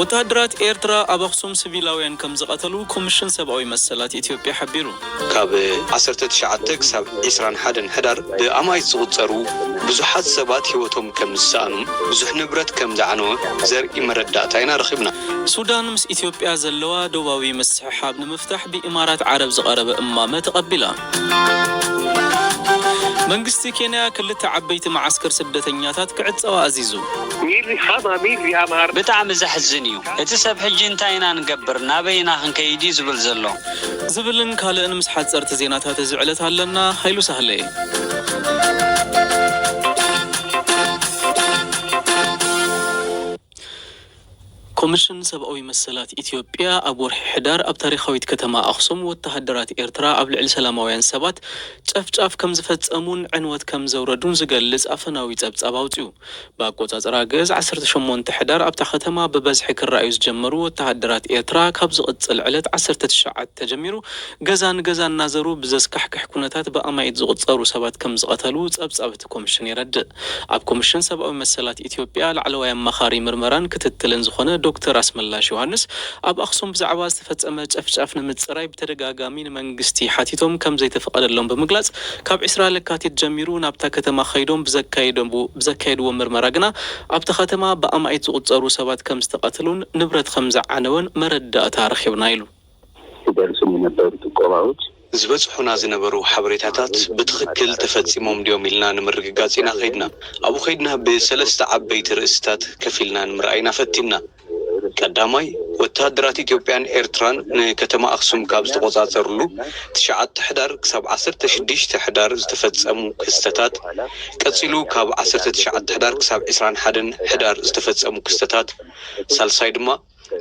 ወተሃደራት ኤርትራ ኣብ ኣኽሱም ስቪላውያን ከምዝቐተሉ ኮምሽን ሰብኣዊ መሰላት ኢትዮጵያ ሓቢሩ። ካብ ዓሰርተ ትሽዓተ ክሳብ ዕስራን ሓደን ሕዳር ብኣማኢት ዝቑጸሩ ብዙሓት ሰባት ህይወቶም ከም ዝሰኣኑን ብዙሕ ንብረት ከም ዝዓነወ ዘርኢ መረዳእታ ኢና ረኺብና። ሱዳን ምስ ኢትዮጵያ ዘለዋ ዶባዊ ምስሕሓብ ንምፍታሕ ብኢማራት ዓረብ ዝቐረበ እማመ ተቐቢላ። መንግስቲ ኬንያ ክልተ ዓበይቲ መዓስከር ስደተኛታት ክዕጸዋ ኣዚዙ። ብጣዕሚ ዘሕዝን እዩ እቲ ሰብ ሕጂ እንታይ ኢና ንገብር ናበይ ኢና ክንከይድ እዩ ዝብል ዘሎ። ዝብልን ካልእን ምስ ሓጸርቲ ዜናታት እዚ ዕለት ኣለና ሃይሉ ሳህለ። ኮምሽን ሰብኣዊ መሰላት ኢትዮጵያ ኣብ ወርሒ ሕዳር ኣብ ታሪኻዊት ከተማ ኣኽሱም ወተሃደራት ኤርትራ ኣብ ልዕሊ ሰላማውያን ሰባት ጨፍጫፍ ከምዝፈጸሙን ዕንወት ከምዘውረዱን ዝገልጽ ኣፈናዊ ጸብጻብ ኣውጺኡ። ብኣቆጻጽራ ግእዝ ዓሰርተ ሸሞንተ ሕዳር ኣብታ ከተማ ብበዝሒ ክረኣዩ ዝጀመሩ ወተሃደራት ኤርትራ ካብ ዝቕጽል ዕለት ዓሰርተ ትሽዓተ ተጀሚሩ ገዛ ንገዛ እናዘሩ ብዘስካሕክሕ ኩነታት ብኣማኢት ዝቑጸሩ ሰባት ከምዝቐተሉ ጸብጻብ እቲ ኮምሽን የረድእ። ኣብ ኮምሽን ሰብኣዊ መሰላት ኢትዮጵያ ላዕለዋይ ኣማኻሪ ምርመራን ክትትልን ዝኾነ ዶክተር ኣስመላሽ ዮሃንስ ኣብ ኣኽሱም ብዛዕባ ዝተፈፀመ ጨፍጫፍ ንምፅራይ ብተደጋጋሚ ንመንግስቲ ሓቲቶም ከምዘይተፈቐደሎም ብምግላፅ ካብ ዕስራ ለካቲት ጀሚሩ ናብታ ከተማ ከይዶም ብዘካየድዎ ምርመራ ግና ኣብታ ከተማ ብኣማኢት ዝቑፀሩ ሰባት ከምዝተቐተሉን ንብረት ከምዝዓነወን መረዳእታ ረኺብና ኢሉ። ዝደርሱኒ ነበሩ ጥቆማዎች። ዝበጽሑና ዝነበሩ ሓበሬታታት ብትኽክል ተፈጺሞም ድዮም ኢልና ንምርግጋጽ ኢና ከይድና። ኣብኡ ከይድና ብሰለስተ ዓበይቲ ርእስታት ከፊልና ንምርኣይ ኢና ፈቲንና። ቀዳማይ፣ ወተሃደራት ኢትዮጵያን ኤርትራን ንከተማ ኣኽሱም ካብ ዝተቖጻጸርሉ ትሽዓተ ሕዳር ክሳብ ዓሰርተ ሽዱሽተ ሕዳር ዝተፈጸሙ ክስተታት፣ ቀጺሉ ካብ ዓሰርተ ትሽዓተ ሕዳር ክሳብ ዕስራን ሓደን ሕዳር ዝተፈጸሙ ክስተታት፣ ሳልሳይ ድማ፣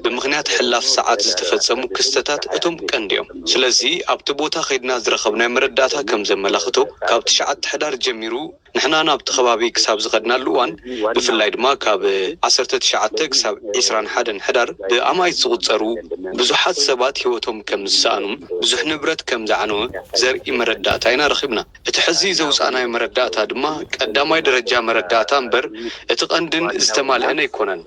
ብምኽንያት ሕላፍ ሰዓት ዝተፈጸሙ ክስተታት እቶም ቀንዲ'ዮም። ስለዚ ኣብቲ ቦታ ከይድና ዝረኸብናዮ መረዳእታ ከም ዘመላኽቶ፣ ካብ ትሽዓተ ሕዳር ጀሚሩ ንሕና ናብቲ ከባቢ ክሳብ ዝኸድናሉ እዋን፣ ብፍላይ ድማ ካብ ዓሰርተ ትሽዓተ ክሳብ ዕስራን ሓደን ሕዳር ብኣማኢት ዝቑጸሩ ብዙሓት ሰባት ህይወቶም ከም ዝሰኣኑን ብዙሕ ንብረት ከም ዝዓነወ ዘርኢ መረዳእታ ኢና ረኺብና። እቲ ሕዚ ዘውጻእናዮ መረዳእታ ድማ ቀዳማይ ደረጃ መረዳእታ እምበር እቲ ቀንድን ዝተማልኤን ኣይኮነን።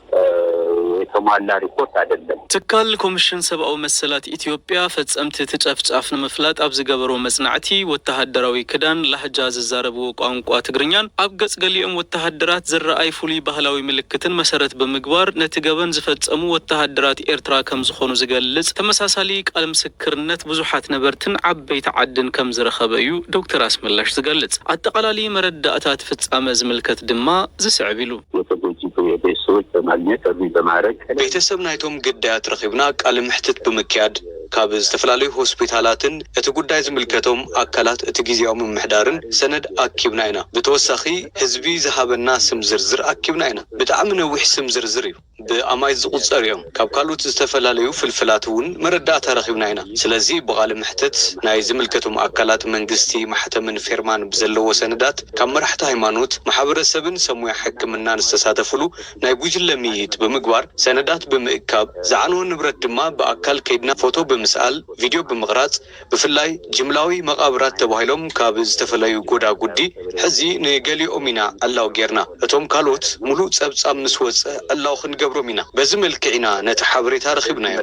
ትካል ኮምሽን ሰብኣዊ መሰላት ኢትዮጵያ ፈጸምቲ እቲ ጨፍጫፍ ንምፍላጥ ኣብ ዝገበሮ መጽናዕቲ ወተሃደራዊ ክዳን፣ ላህጃ፣ ዝዛረብዎ ቋንቋ ትግርኛን ኣብ ገጽ ገሊኦም ወተሃደራት ዝረኣይ ፍሉይ ባህላዊ ምልክትን መሰረት ብምግባር ነቲ ገበን ዝፈጸሙ ወተሃደራት ኤርትራ ከምዝኾኑ ዝገልጽ ተመሳሳሊ ቃል ክርነት ብዙሓት ነበርትን ዓበይቲ ዓድን ከምዝረኸበ እዩ ዶክተር ኣስመላሽ ዝገልጽ። ኣጠቓላሊ መረዳእታ እቲ ፍጻመ ዝምልከት ድማ ዝስዕብ ኢሉ። ቤተሰብ ናይቶም ግዳያት ረኺብና ቃለ መሕትት ብምክያድ ካብ ዝተፈላለዩ ሆስፒታላትን እቲ ጉዳይ ዝምልከቶም ኣካላት እቲ ግዝያዊ ምምሕዳርን ሰነድ ኣኪብና ኢና ብተወሳኺ ህዝቢ ዝሃበና ስም ዝርዝር ኣኪብና ኢና ብጣዕሚ ነዊሕ ስም ዝርዝር እዩ ብኣማኢት ዝቑጸሩ እዮም። ካብ ካልኡት ዝተፈላለዩ ፍልፍላት እውን መረዳእታ ረኺብና ኢና። ስለዚ ብቓለ መሕትት ናይ ዝምልከቶም ኣካላት መንግስቲ ማሕተምን ፌርማን ብዘለዎ ሰነዳት ካብ መራሕቲ ሃይማኖት፣ ማሕበረሰብን ሰብ ሞያ ሕክምናን ዝተሳተፍሉ ናይ ጉጅለ ምይይጥ ብምግባር ሰነዳት ብምእካብ ዝዓነወ ንብረት ድማ ብኣካል ከይድና ፎቶ ብምስኣል ቪድዮ ብምቕራጽ ብፍላይ ጅምላዊ መቓብራት ተባሂሎም ካብ ዝተፈለዩ ጎዳጉዲ ሕዚ ንገሊኦም ኢና ዕላው ጌርና። እቶም ካልኦት ሙሉእ ጸብጻብ ምስ ወጸ ዕላው ክንገብሮም ኢና። በዚ መልክዕ ኢና ነቲ ሓበሬታ ረኺብናዮ።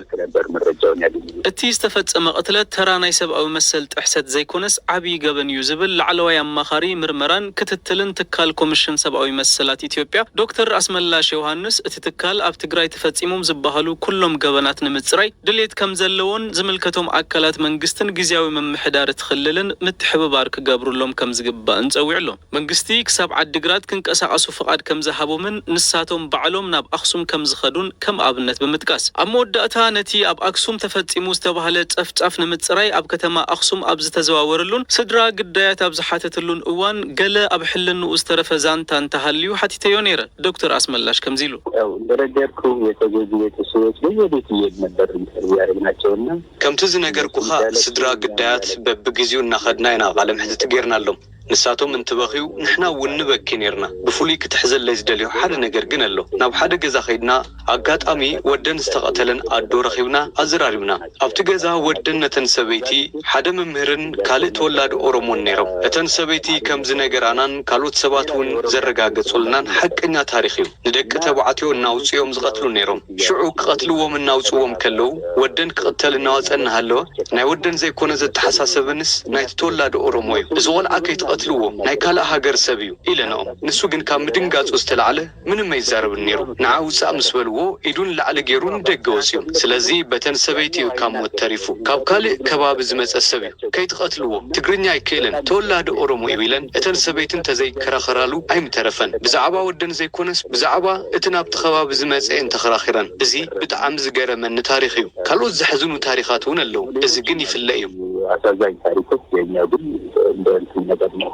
እቲ ዝተፈጸመ ቅትለት ተራ ናይ ሰብኣዊ መሰል ጥሕሰት ዘይኮነስ ዓብዪ ገበን እዩ ዝብል ላዕለዋይ ኣማኻሪ ምርመራን ክትትልን ትካል ኮምሽን ሰብኣዊ መሰላት ኢትዮጵያ ዶክተር ኣስመላሽ ዮሃንስ እቲ ትካል ኣብ ትግራይ ተፈጺሞም ዝበሃሉ ኩሎም ገበናት ንምጽራይ ድሌት ከምዘለዎን ዝምልከቶም ኣካላት መንግስትን ግዝያዊ ምምሕዳር እቲ ክልልን ምትሕብባር ክገብሩሎም ከምዝግባእን ፀዊዑ ኣሎ። መንግስቲ ክሳብ ዓዲግራት ክንቀሳቐሱ ፍቓድ ከምዝሃቦምን ንሳቶም ባዕሎም ናብ ኣክሱም ከምዝኸዱን ከም ኣብነት ብምጥቃስ ኣብ መወዳእታ ነቲ ኣብ ኣክሱም ተፈፂሙ ዝተብሃለ ፀፍፃፍ ንምፅራይ ኣብ ከተማ ኣክሱም ኣብ ዝተዘዋወረሉን ስድራ ግዳያት ኣብ ዝሓተትሉን እዋን ገለ ኣብ ሕልንኡ ዝተረፈ ዛንታ እንተሃልዩ ሓቲተዮ ነይረ ዶክተር ኣስመላሽ ከምዚ ኢሉ። ያው እንደነገርኩህ የተጎጂ ቤተሰቦች በየቤቱ እየሄድን ነበር ኢንተርቪው ያረግናቸው እና። ከምቲ ዝነገርኩኻ ስድራ ግዳያት በብግዚኡ እናኸድና ኢና ቃለመሕትት ገይርናሎም። ንሳቶም እንትበኽዩ ንሕና እውን ንበኪ ነይርና። ብፍሉይ ክትሕዘለይ ዝደልዮ ሓደ ነገር ግን ኣሎ። ናብ ሓደ ገዛ ከይድና። ኣጋጣሚ ወደን ዝተቐተለን ኣዶ ረኺብና ኣዘራሪብና። ኣብቲ ገዛ ወደን ነተን ሰበይቲ ሓደ መምህርን ካልእ ተወላዲ ኦሮሞን ነይሮም። እተን ሰበይቲ ከም ዝነገራናን ካልኦት ሰባት እውን ዘረጋገጹልናን ሓቀኛ ታሪኽ እዩ። ንደቂ ተባዕትዮ እናውጽኡ እዮም ዝቐትሉ ነይሮም። ሽዑ ክቐትልዎም እናውጽዎም ከለዉ ወደን ክቕተል እናወጸ እናሃለወ ናይ ወደን ዘይኮነ ዘተሓሳሰበንስ ናይቲ ተወላዲ ኦሮሞ እዩ። እዚ ቆልዓ ከይትቐትልዎ ናይ ካልእ ሃገር ሰብ እዩ ኢለንኦም። ንሱ ግን ካብ ምድንጋጹ ዝተላዕለ ምንም ኣይዛረብን ኔሩ ንዓ ውጻእ ምስ በልዎ ኢዱ ንላዕሊ ጌሩ ንደገ ወጽዩ ስለዚ በተን ሰበይቲ እዩ ካብ ሞት ተሪፉ ካብ ካልእ ከባቢ ዝመጸ ሰብ እዩ ከይትቀትልዎ ትግርኛ ኣይክእልን ተወላዲ ኦሮሞ እዩ ኢለን እተን ሰበይቲ እንተዘይ ከራኸራሉ ኣይምተረፈን ብዛዕባ ወደን ዘይኮነስ ብዛዕባ እቲ ናብቲ ከባቢ ዝመጸ እየን ተኸራኺረን እዚ ብጣዕሚ ዝገረመኒ ታሪኽ እዩ ካልኦት ዘሕዝኑ ታሪኻት እውን ኣለው እዚ ግን ይፍለ እዩ። ኣሳዛኝ ታሪኮች የኛ ግን እንደ እንትን ነገር ነው።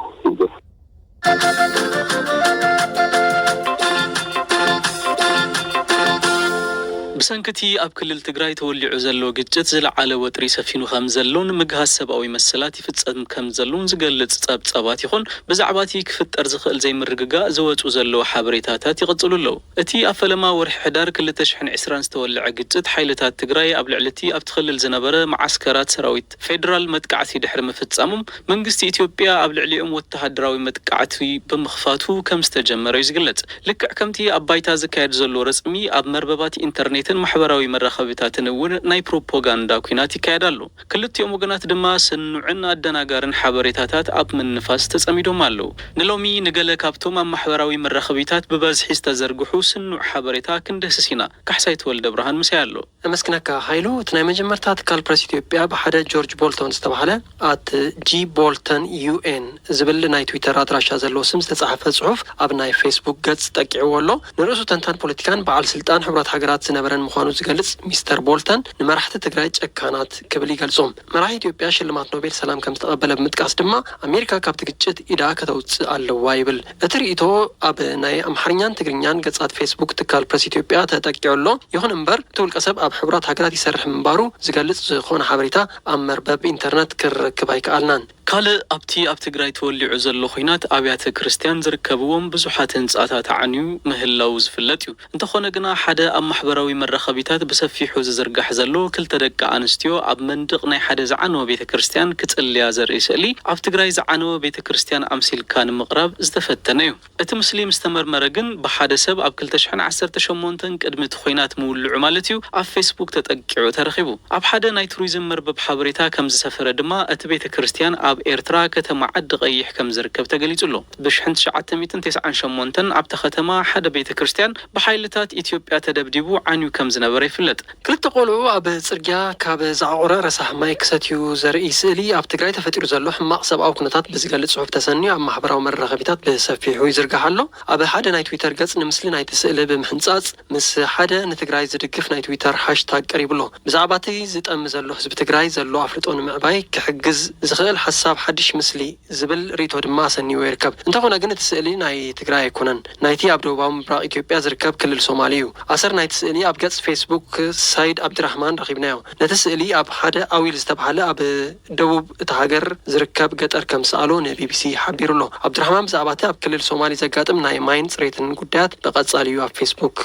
ብሰንኪ እቲ ኣብ ክልል ትግራይ ተወሊዑ ዘሎ ግጭት ዝለዓለ ወጥሪ ሰፊኑ ከምዘሎን ምግሃስ ሰብኣዊ መሰላት ይፍፀም ከምዘሎን ዝገልፅ ፀብፃባት ይኹን ብዛዕባ እቲ ክፍጠር ዝኽእል ዘይምርግጋእ ዝወፁ ዘለዉ ሓበሬታታት ይቕፅሉ ኣለዉ። እቲ ኣብ ፈለማ ወርሒ ሕዳር ክልተ ሽሕን ዕስራን ዝተወለዐ ግጭት ሓይልታት ትግራይ ኣብ ልዕሊ እቲ ኣብቲ ክልል ዝነበረ መዓስከራት ሰራዊት ፌደራል መጥቃዕቲ ድሕሪ ምፍፃሞም መንግስቲ ኢትዮጵያ ኣብ ልዕሊኦም ወተሃደራዊ መጥቃዕቲ ብምኽፋቱ ከምዝተጀመረ እዩ ዝግለፅ። ልክዕ ከምቲ ኣብ ባይታ ዝካየድ ዘሎ ረፅሚ ኣብ መርበባት ኢንተርኔትን ማሕበራዊ መራኸቢታትን እውን ናይ ፕሮፖጋንዳ ኲናት ይካየድ ኣሎ። ክልቲኦም ወገናት ድማ ስኑዕን ኣደናጋርን ሓበሬታታት ኣብ ምንፋስ ተፀሚዶም ኣለዉ። ንሎሚ ንገለ ካብቶም ኣብ ማሕበራዊ መራኸቢታት ብበዝሒ ዝተዘርግሑ ስኑዕ ሓበሬታ ክንድህስስ ኢና። ካሕሳይ ተወልደብርሃን ምሳይ ኣሎ። ነመስግነካ ሃይሉ እቲ ናይ መጀመርታ ትካል ፕረስ ኢትዮጵያ ብሓደ ጆርጅ ቦልቶን ዝተባህለ at jboltonun ዝብል ናይ ትዊተር ኣድራሻ ዘለዎ ስም ዝተጻሕፈ ጽሑፍ ኣብ ናይ ፌስቡክ ገጽ ጠቂዕዎ ኣሎ ንርእሱ ተንታን ፖለቲካን በዓል ስልጣን ሕቡራት ሃገራት ዝነበረን ምዃኑ ዝገልጽ ሚስተር ቦልተን ንመራሕቲ ትግራይ ጨካናት ክብል ይገልጾም መራሒ ኢትዮጵያ ሽልማት ኖቤል ሰላም ከምዝተቐበለ ብምጥቃስ ድማ ኣሜሪካ ካብቲ ግጭት ኢዳ ከተውጽእ ኣለዋ ይብል። እቲ ርእይቶ ኣብ ናይ ኣምሓርኛን ትግርኛን ገጻት ፌስቡክ ትካል ፕረስ ኢትዮጵያ ተጠቂዑ ኣሎ። ይኹን እምበር እቲ ውልቀሰብ ኣብ ሕቡራት ሃገራት ይሰርሕ ምንባሩ ዝገልጽ ዝኾነ ሓበሬታ ኣብ መርበብ ኢንተርነት ክንረክብ ኣይከኣልናን። ካልእ ኣብቲ ኣብ ትግራይ ተወሊዑ ዘሎ ኹናት ኣብያተ ክርስትያን ዝርከብዎም ብዙሓት ህንጻታት ዓንዩ ምህላዉ ዝፍለጥ እዩ። እንተኾነ ግና ሓደ ኣብ ማሕበራዊ መራኸቢታት ብሰፊሑ ዝዝርጋሕ ዘሎ ክልተ ደቂ ኣንስትዮ ኣብ መንድቕ ናይ ሓደ ዝዓነወ ቤተ ክርስትያን ክጽልያ ዘርኢ ስእሊ ኣብ ትግራይ ዝዓነወ ቤተ ክርስትያን ኣምሲልካ ንምቕራብ ዝተፈተነ እዩ። እቲ ምስሊ ምስ ተመርመረ ግን ብሓደ ሰብ ኣብ ክልተ ሽሕን ዓሰርተ ሸሞንተን ቅድሚ እቲ ኹናት ምውልዑ ማለት እዩ ኣብ ፌስቡክ ተጠቂዑ ተረኺቡ። ኣብ ሓደ ናይ ቱሪዝም መርበብ ሓበሬታ ከም ዝሰፈረ ድማ እቲ ቤተ ክርስትያን ኣብ ኤርትራ ከተማ ዓዲ ቐይሕ ከም ዝርከብ ተገሊጹ ኣሎ። ብ ሽሕን ትሽዓተ ሚእትን ተስዓን ሸሞንተን ኣብታ ከተማ ሓደ ቤተ ክርስትያን ብሓይልታት ኢትዮጵያ ተደብዲቡ ዓንዩ ከም ዝነበረ ይፍለጥ። ክልተ ቆልዑ ኣብ ጽርግያ ካብ ዝዓቖረ ረሳሕ ማይ ክሰትዩ ዘርኢ ስእሊ ኣብ ትግራይ ተፈጢሩ ዘሎ ሕማቕ ሰብኣዊ ኩነታት ብዝገልጽ ጽሑፍ ተሰንዩ ኣብ ማሕበራዊ መራኸቢታት ብሰፊሑ ይዝርጋሕ ኣሎ። ኣብ ሓደ ናይ ትዊተር ገጽ ንምስሊ ናይቲ ስእሊ ብምሕንጻጽ ምስ ሓደ ንትግራይ ዝድግፍ ናይ ትዊተር ሃሽታግ ቀሪቡ'ሎ። ብዛዕባ'ቲ ዝጠሚ ዘሎ ህዝቢ ትግራይ ዘሎ ኣፍልጦ ንምዕባይ ክሕግዝ ዝኽእል ሓሳብ ሓድሽ ምስሊ ዝብል ርኢቶ ድማ ኣሰኒዎ ይርከብ። እንተኾነ ግን እቲ ስእሊ ናይ ትግራይ ኣይኮነን። ናይቲ ኣብ ደቡባዊ ምብራቕ ኢትዮጵያ ዝርከብ ክልል ሶማል እዩ። ኣሰር ናይቲ ስእሊ ኣብ ገጽ ፌስቡክ ሳይድ ኣብዲራህማን ረኺብናዮ። ነቲ ስእሊ ኣብ ሓደ ኣዊል ዝተባህለ ኣብ ደቡብ እታ ሃገር ዝርከብ ገጠር ከም ዝሰኣሎ ንቢቢሲ ሓቢሩ'ሎ። ኣብዲራህማን ብዛዕባ'ቲ ኣብ ክልል ሶማሊ ዘጋጥም ናይ ማይን ጽሬትን ጉዳያት ብቐጻሊ እዩ ኣብ ፌስቡክ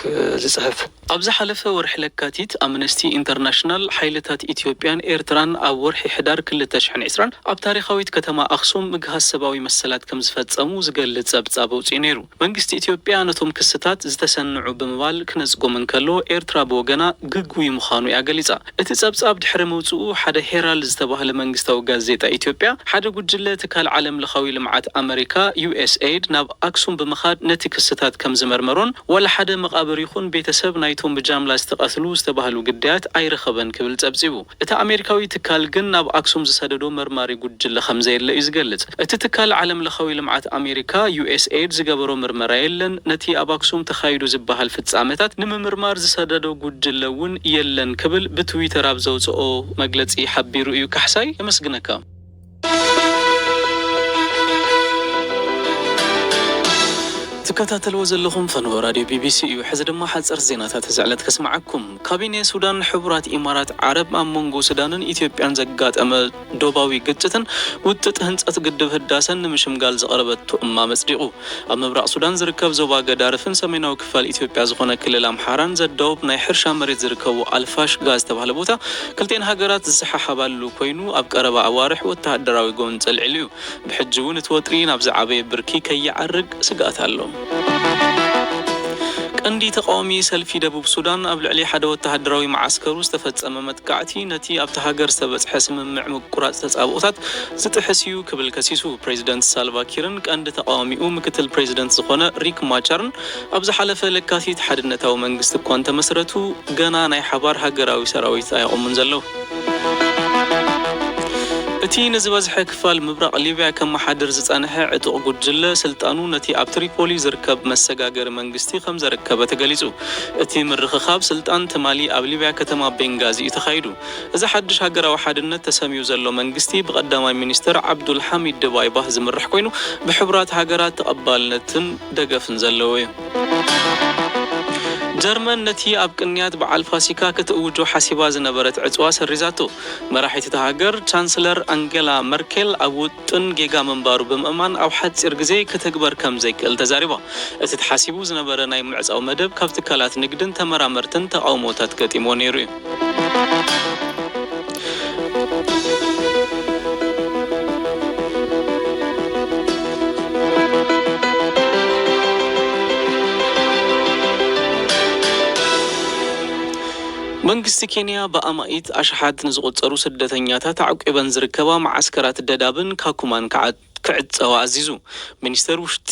ዝጽሕፍ። ኣብ ዝሓለፈ ወርሒ ለካቲት፣ ኣምነስቲ ኢንተርናሽናል፣ ሓይልታት ኢትዮጵያን ኤርትራን ኣብ ወርሒ ሕዳር ክልተ ሽሕን ዕስራን ኣብ ታሪኻዊት ከተማ ኣኽሱም ምግሃስ ሰብኣዊ መሰላት ከምዝፈጸሙ ዝገልጽ ጸብጻብ ኣውጺኡ ነይሩ። መንግስቲ ኢትዮጵያ ነቶም ክስታት ዝተሰንዑ ብምባል ክነጽጎም እንከሎ፣ ኤርትራ ብወገና ግጉይ ምዃኑ እያ ገሊጻ። እቲ ጸብጻብ ድሕሪ ምውጽኡ፣ ሓደ ሄራልድ ዝተባህለ መንግስታዊ ጋዜጣ ኢትዮጵያ፣ ሓደ ጉጅለ ትካል ዓለምለኻዊ ልምዓት ኣመሪካ፣ USAID፣ ናብ ኣክሱም ብምኻድ ነቲ ክስታት ከም ዝመርመሮን ዋላ ሓደ መቓብር ይኹን ቤተሰብ ናይቶም ብጃምላ ዝተቐትሉ ዝተባህሉ ግዳያት ኣይረኸበን ክብል ጸብጺቡ። እቲ ኣሜሪካዊ ትካል ግን ናብ ኣክሱም ዝሰደዶ መርማሪ ጉጅለ ከም ዘየለ እዩ ዝገልጽ። እቲ ትካል ዓለምለኻዊ ልምዓት ኣሜሪካ፣ USAID፣ ዝገበሮ ምርመራ የለን፣ ነቲ ኣብ ኣክሱም ተኻይዱ ዝበሃል ፍጻመታት ንምምርማር ዝሰደዶ ጉጅለ እውን የለን ክብል ብትዊተር ኣብ ዘውጸኦ መግለጺ ሓቢሩ እዩ። ካሕሳይ የመስግነካ። ትከታተልዎ ዘለኹም ፈነወ ራድዮ ቢቢሲ እዩ። ሕዚ ድማ ሓጸርቲ ዜናታት እዚ ዕለት ከስምዓኩም። ካቢኔ ሱዳን፣ ሕቡራት ኢማራት ዓረብ ኣብ መንጎ ሱዳንን ኢትዮጵያን ዘጋጠመ ዶባዊ ግጭትን ውጥጥ ህንፀት ግድብ ህዳሰን ንምሽምጋል ዝቐረበቶ እማመ ፅዲቑ። ኣብ ምብራቕ ሱዳን ዝርከብ ዞባ ገዳርፍን ሰሜናዊ ክፋል ኢትዮጵያ ዝኾነ ክልል ኣምሓራን ዘዳውብ ናይ ሕርሻ መሬት ዝርከቦ ኣልፋሽጋ ዝተባህለ ቦታ ክልቲኤን ሃገራት ዝሰሓሓባሉ ኮይኑ ኣብ ቀረባ ኣዋርሕ ወተሃደራዊ ጎንፂ ኣልዒሉ ዩ። ብሕጂ እውን እቲ ወጥሪ ናብ ዝዓበየ ብርኪ ከይዓርግ ስግኣት ኣሎ። ቀንዲ ተቓዋሚ ሰልፊ ደቡብ ሱዳን፣ ኣብ ልዕሊ ሓደ ወተሃደራዊ መዓስከሩ ዝተፈጸመ መጥቃዕቲ፣ ነቲ ኣብታ ሃገር ዝተበጽሐ ስምምዕ ምቁራጽ ተጻብኦታት ዝጥሕስ እዩ ክብል ከሲሱ። ፕሬዚደንት ሳልቫ ኪርን ቀንዲ ተቓዋሚኡ ምክትል ፕሬዚደንት ዝኾነ ሪክ ማቻርን፣ ኣብ ዝሓለፈ ለካቲት ሓድነታዊ መንግስቲ እኳ እንተመስረቱ ገና ናይ ሓባር ሃገራዊ ሰራዊት ኣየቑሙን ዘለዉ። እቲ ንዝበዝሐ ክፋል ምብራቕ ሊብያ ከመሓድር ዝጸንሐ ዕጡቕ ጉጅለ ስልጣኑ ነቲ ኣብ ትሪፖሊ ዝርከብ መሰጋገሪ መንግስቲ ከምዘረከበ ተገሊጹ። እቲ ምርኽኻብ ስልጣን ትማሊ ኣብ ሊብያ ከተማ ቤንጋዚ እዩ ተኻይዱ። እዚ ሓድሽ ሃገራዊ ሓድነት ተሰምዩ ዘሎ መንግስቲ ብቀዳማይ ሚኒስተር ዓብዱል ሓሚድ ድባይባህ ዝምራሕ ኮይኑ ብሕቡራት ሃገራት ተቐባልነትን ደገፍን ዘለዎ እዩ። ጀርመን ነቲ ኣብ ቅንያት በዓል ፋሲካ ክትእውጆ ሓሲባ ዝነበረት ዕጽዋ ሰሪዛቶ። መራሒት እታ ሃገር ቻንስለር ኣንገላ መርኬል ኣብ ውጥን ጌጋ ምንባሩ ብምእማን ኣብ ሓጺር ግዜ ክትግበር ከም ዘይክእል ተዛሪባ። እቲ ተሓሲቡ ዝነበረ ናይ ምዕጻው መደብ ካብ ትካላት ንግድን ተመራመርትን ተቓውሞታት ገጢምዎ ነይሩ እዩ። መንግስቲ ኬንያ ብኣማኢት ኣሽሓት ንዝቑጸሩ ስደተኛታት ኣዕቊበን ዝርከባ መዓስከራት ደዳብን ካኩማን ክዕጸዋ ኣዚዙ። ሚኒስተር ውሽጢ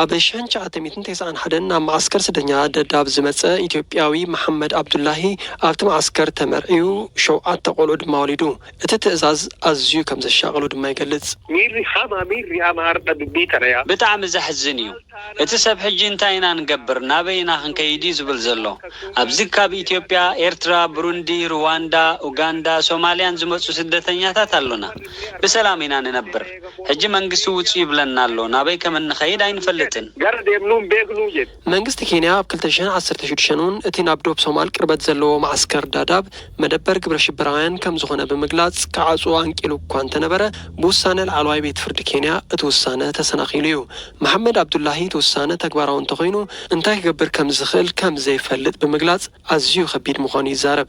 ኣብ ሽሕን ትሽዓተ ሚእትን ተስዓን ሓደን ናብ መዓስከር ስደተኛታት ደዳብ ዝመጸ ኢትዮጵያዊ መሓመድ ኣብዱላሂ ኣብቲ መዓስከር ተመርዕዩ ሸውዓተ ቆልዑ ድማ ወሊዱ። እቲ ትእዛዝ ኣዝዩ ከም ዘሻቐሎ ድማ ይገልጽ። ሚሪ ኻማ ሚሪ ኣማ ኣርዳ ዱቢ ተረያ። ብጣዕሚ ዘሕዝን እዩ እቲ ሰብ ሕጂ እንታይ ኢና ንገብር ናበይ ኢና ክንከይድ እዩ ዝብል ዘሎ ኣብዚ ካብ ኢትዮጵያ ኤርትራ ብሩንዲ ርዋንዳ ኡጋንዳ ሶማልያን ዝመጹ ስደተኛታት ኣሎና ብሰላም ኢና ንነብር ሕጂ መንግስቲ ውጹ ይብለና ኣሎ ናበይ ከም እንኸይድ ኣይንፈልጥን። መንግስቲ ኬንያ ኣብ ክልተ ሽሕ ዓሰርተ ሽዱሽተ ን እቲ ናብ ዶብ ሶማል ቅርበት ዘለዎ መዓስከር ዳዳብ መደበር ግብረ ሽበራውያን ከም ዝኾነ ብምግላጽ ክዓጽዎ ኣንቂሉ እኳ እንተነበረ ብውሳነ ላዕለዋይ ቤት ፍርዲ ኬንያ እቲ ውሳነ ተሰናኺሉ እዩ። መሓመድ ኣብዱላሂ እቲ ውሳነ ተግባራዊ እንተኾይኑ እንታይ ክገብር ከም ዝኽእል ከም ዘይፈልጥ ብምግላጽ ኣዝዩ ከቢድ ምዃኑ ይዛረብ።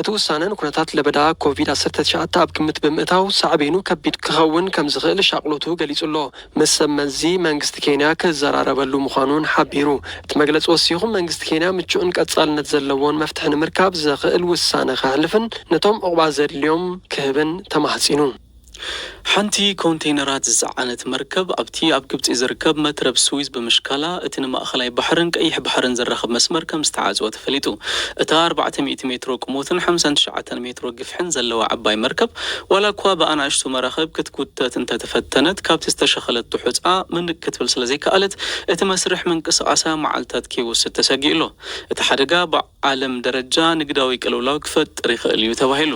እቲ ውሳነ ንኩነታት ለበዳ ኮቪድ ዓሰርተ ትሽዓተ ኣብ ግምት ብምእታው ሳዕቤኑ ከቢድ ክኸውን ከምዝኽእል ሻቕሎቱ ገሊጹ'ሎ። ምስ ሰብ መዚ መንግስቲ ኬንያ ክዘራረበሉ ምዃኑ'ውን ሓቢሩ። እቲ መግለጺ ወሲኹ መንግስቲ ኬንያ ምቹእን ቀጻልነት ዘለዎን መፍትሒ ንምርካብ ዘኽእል ውሳነ ከሕልፍን ነቶም ዑቕባ ዘድልዮም ክህብን ተማሕጺኑ። ሓንቲ ኮንተይነራት ዝጸዓነት መርከብ ኣብቲ ኣብ ግብጺ ዝርከብ መትረብ ስዊዝ ብምሽካላ፣ እቲ ንማእከላይ ባሕርን ቀይሕ ባሕርን ዘራኽብ መስመር ከም ዝተዓጽወ ተፈሊጡ። እታ ኣርባዕተ ሚእቲ ሜትሮ ቁሞትን ሓምሳን ትሽዓተን ሜትሮ ግፍሕን ዘለዋ ዓባይ መርከብ፣ ዋላኳ ብኣናእሽቱ መራኽብ ክትጉተት እንተ ተፈተነት፣ ካብቲ ዝተሸኸለቶ ሑጻ ምንቅ ክትብል ስለ ዘይከኣለት፣ እቲ መስርሕ ምንቅስቓሳ መዓልታት ከይወስድ ተሰጊኡ'ሎ። እቲ ሓደጋ፣ ዓለም ደረጃ ንግዳዊ ቅልውላው ክፈጥር ይኽእል እዩ ተባሂሉ።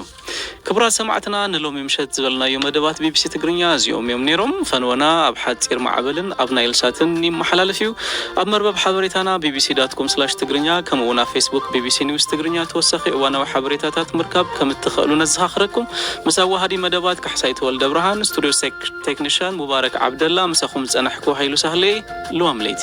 ክቡራት ሰማዕትና ንሎሚ ምሸት ዝበልናዮ መደባት ቢቢሲ ትግርኛ እዚኦም እዮም ነይሮም። ፈንወና ኣብ ሓጺር ማዕበልን ኣብ ናይልሳትን ይመሓላለፍ እዩ። ኣብ መርበብ ሓበሬታና ቢቢሲ ዳት ኮም ስላሽ ትግርኛ ከምኡ'ውን ኣብ ፌስቡክ ቢቢሲ ኒውስ ትግርኛ ተወሳኺ እዋናዊ ሓበሬታታት ምርካብ ከም እትኸእሉ ነዘኻኽረኩም። ምስ ኣዋሃዲ መደባት ካሕሳይ ተወልደብርሃን፣ ስቱድዮ ቴክኒሻን ሙባረክ ዓብደላ፣ ምሳኹም ዝጸናሕኩ ሃይሉ ሳህለ እየ። ልዋም ለይቲ።